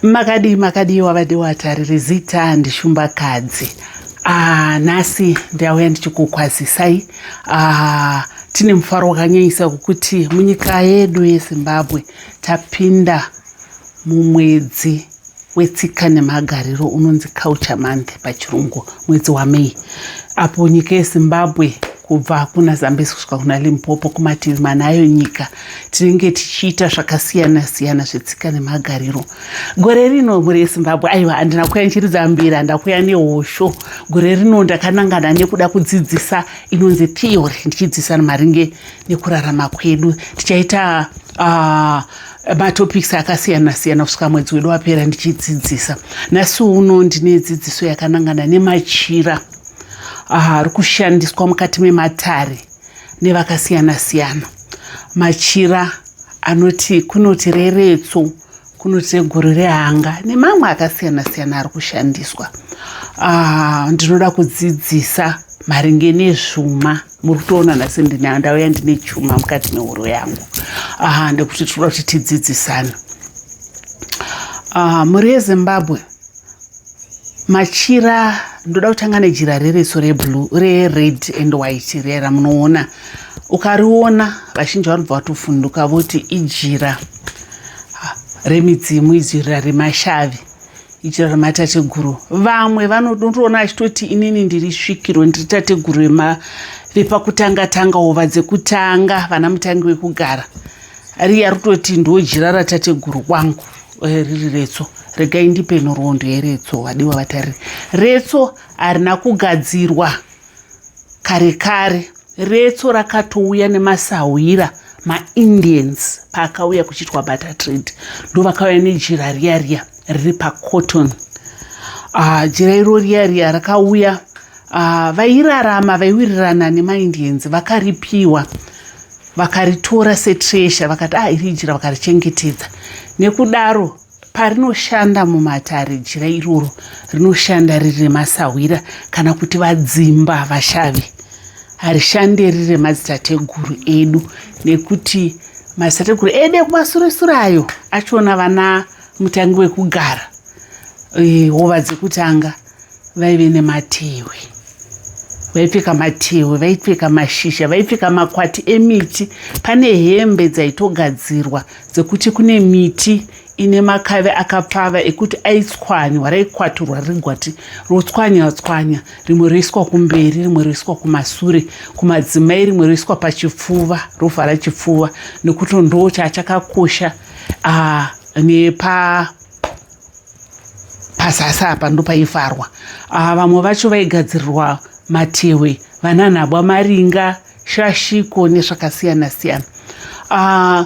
makadii makadii wavadi watariri zita handishumbakadzi ah, nhasi ndauya ndichikukwazisai ah, tine mufaro wakanyanyisa kukuti munyika yedu yezimbabwe tapinda mumwedzi wetsika nemagariro unonzi culture month pachirungu mwedzi wamei apo nyika yezimbabwe kubva kuna zambezi kusvika kuna limpopo kumativi manayo nyika tinenge tichiita zvakasiyana siyana zvetsika nemagariro gore rino mhuri yezimbabwe aiwa handina kuya ndichiridza mbira ndakuya nehosho gore rino ndakanangana nekuda kudzidzisa inonzi theory ndichidzidzisa maringe nekurarama kwedu tichaita uh, matopics akasiyana siyana kusvika mwedzi wedu wapera ndichidzidzisa nhasi uno ndine dzidziso yakanangana nemachira ah, ari uh, kushandiswa mukati mematare nevakasiyana-siyana. Machira anoti kunoti reretso, kunoti reguru rehanga nemamwe akasiyana-siyana ari kushandiswa. Ah, ndinoda kudzidzisa maringe nezvuma muri kutoona nhasi ndauya ndine chuma mukati mehoro yangu aha ndekuti tinoda kuti tidzidzisane ah, mhuri yezimbabwe machira ndoda kutanga nejira rereso reblue rered and white riya ramunoona ukariona vazhinji vanobva vatofunduka voti ijira remidzimu ijira remashavi ijira rematateguru vamwe vanotoona achitoti inini ndiri svikiro ndiri tateguru vepakutanga tanga ova dzekutanga vana mutangi wekugara riya rutoti ndojira ratateguru kwangu Eh, riri retso regai ndipe nhoroondo yeretso wadiwa vatariri retso harina kugadzirwa kare kare retso rakatouya nemasahwira maindians paakauya kuchiitwa butter trade ndovakauya nejira riya riya riri pacotton ah, jira iro riya riya rakauya ah, vairarama vaiwirirana nemaindians vakaripiwa vakaritora setresha vakati ah iri jira vakarichengetedza nekudaro parinoshanda mumatare jira iroro rinoshanda riri remasahwira kana kuti vadzimba vashavi harishande riri remadzitateguru edu nekuti madzitateguru edu ekumasuresure ayo achiona vana mutangi wekugara eh, hova dzekutanga vaive nematehwe vaipfeka matehwe vaipfeka mashizha vaipfeka makwati emiti pane hembe dzaitogadzirwa dzekuti kune miti ine makave akapfava ekuti aitswanywa raikwaturwa riri gwati rotswanywa tswanya rimwe roiswa kumberi rimwe roiswa kumasure kumadzimai rimwe roiswa pachipfuva rovhara chipfuva nekuti ndoo chaachakakosha ah, nepa pazasi apa ndopaifarwa aa ah, vamwe vacho vaigadzirirwa matehwe vananhabwa maringa shashiko nezvakasiyana siyana ah,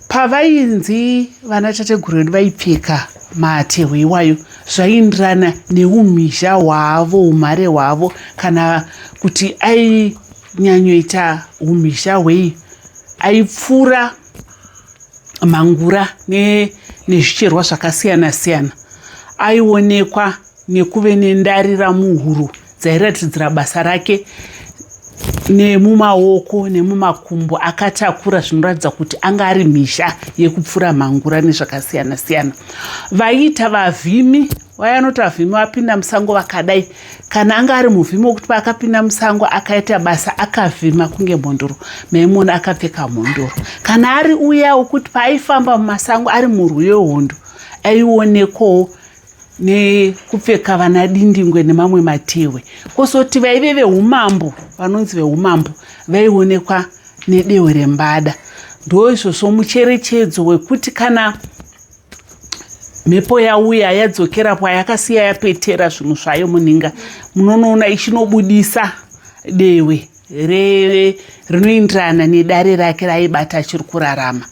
pavainzi vana tateguru vedu vaipfeka matehwe iwayo zvaiindirana neumhizha hwavo umhare hwavo kana kuti ainyanyoita umhizha hwei aipfuura mhangura nezvicherwa ne zvakasiyana siyana aionekwa nekuve nendarira muhuro dzairatidzira basa rake nemumaoko nemumakumbo akatakura zvinoratidza kuti anga ari mhizha yekupfura mhangura nezvakasiyana siyana vaiita vavhimi waya anoti vavhimi vapinda musango vakadai kana anga ari muvhimi wokuti paakapinda musango akaita basa akavhima kunge mhondoro maimona akapfeka mhondoro kana ari uya wokuti paaifamba mumasango ari murwi wehondo aionekwawo nekupfeka vana dindingwe nemamwe matehwe kozoti vaive veumambo vanonzi veumambo vaionekwa nedehwe rembada ndoizvozvo mucherechedzo wekuti kana mhepo yauya yadzokera kwayakasiya yapetera zvinhu zvayo munhinga munonoona ichinobudisa dewe rinoenderana nedare rake raibata achiri kurarama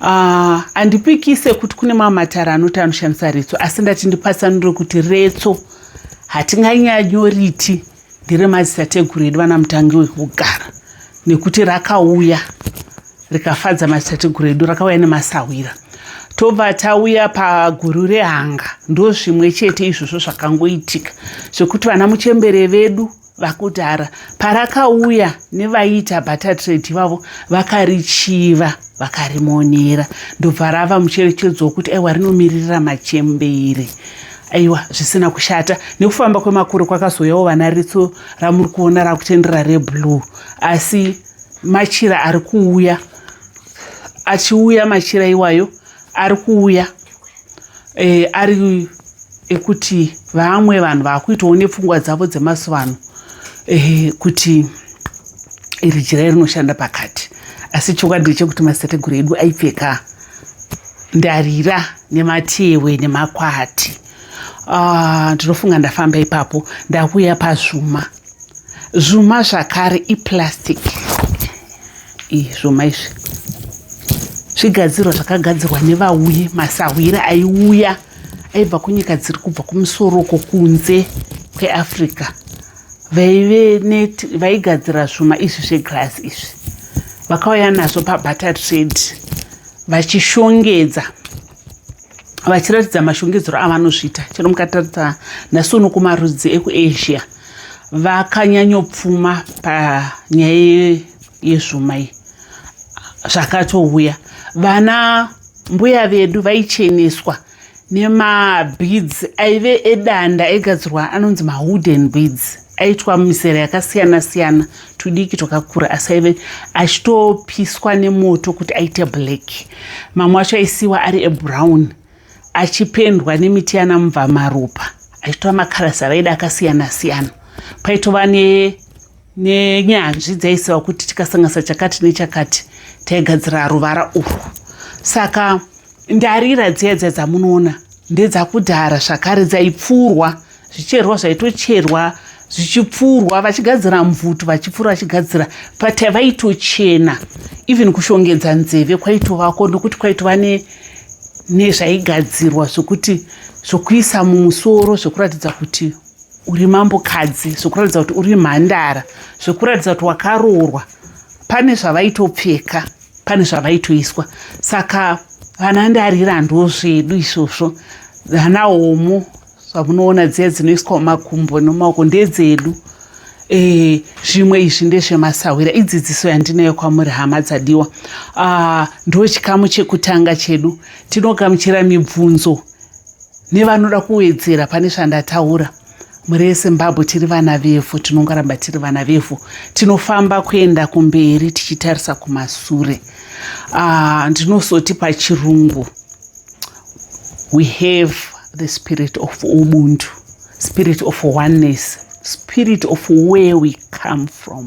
ah, handipikise uh, kuti kune mamwe matare anoti anoshandisa retso asi ndati ndipatsanure kuti retso hatinganyanyoriti ndere madzitateguru edu vana mutangi wekugara nekuti rakauya rikafadza madzitateguru edu rakauya nemasahwira tobva tauya paguru rehanga ndo zvimwe chete izvozvo zvakangoitika zvekuti vana muchembere vedu vakudhara parakauya nevaiita batatrade ivavo vakarichiva vakarimonera ndobva rava mucherechedzo wekuti aiwa rinomiririra machembere aiwa zvisina kushata nekufamba kwemakore kwakazouyawo vana ritso ramuri kuona rakutendera reblue asi machira ari kuuya achiuya machira iwayo ari kuuya e, ari ekuti vamwe vanhu vakuitawo nepfungwa dzavo dzemazuva ano e, kuti iri jira rinoshanda pakati asi chokwadi ndechekuti maseteguru edu aipfeka ndarira nematewe nemakwati ah, ndinofunga ndafamba ipapo ndakuuya pazvuma zvuma zvakare iplastic iyi zvuma izvi zvigadzirwa zvakagadzirwa nevauyi masahwira aiuya aibva kunyika dziri kubva kumusoro uko kunze kweafrica vaive net vaigadzira zvuma izvi zveglass izvi vakauya nazvo pabutter trade vachishongedza vachiratidza mashongedzero avanozviita chero mukataridza nhasi uno kumarudzi ekuasia vakanyanyopfuma panyaya yezvuma iyi zvakatouya vana mbuya vedu vaicheneswa wa nemabeads aive edanda aigadzirwa anonzi mawooden beads aitwa mizera yakasiyana siyana tudiki twakakura asi aive achitopiswa nemoto kuti aite black mamwe acho aisiwa ari ebrown achipendwa nemiti yana mubva maropa aitova makarasi avaida akasiyana siyana paitova ne nenyanzvi dzaiziva kuti tikasanganisa chakati nechakati taigadzira ruvara urwu saka ndarira dziya dziya dzamunoona ndedzakudhara zvakare dzaipfuurwa zvicherwa zvaitocherwa zvichipfuurwa vachigadzira mvutu vachipfuura vachigadzira but vaitochena even kushongedza nzeve kwaitovako nokuti kwaitova nezvaigadzirwa zvokuti zvokuisa mumusoro zvokuratidza kuti uri mambokadzi zvekuratidza kuti uri mhandara zvekuratidza kuti wakaroorwa pane zvavaitopfeka pane zvavaitoiswa saka vana ndarira ndozvedu izvozvo vana homo zvamunoona dziya dzinoiswa mumakumbo nomaoko ndedzedu eh, zvimwe e, izvi ndezvemasahwira idzidziso yandinayo kwamuri hama dzadiwa ah, ndo chikamu chekutanga chedu tinogamuchira mibvunzo nevanoda kuwedzera pane zvandataura mhuri yezimbabwe tiri vana vevhu tinongoramba tiri vana vevhu tinofamba kuenda kumberi tichitarisa kumasure ah, ndinosoti uh, pachirungu we have the spirit of ubuntu spirit of oneness spirit of where we come from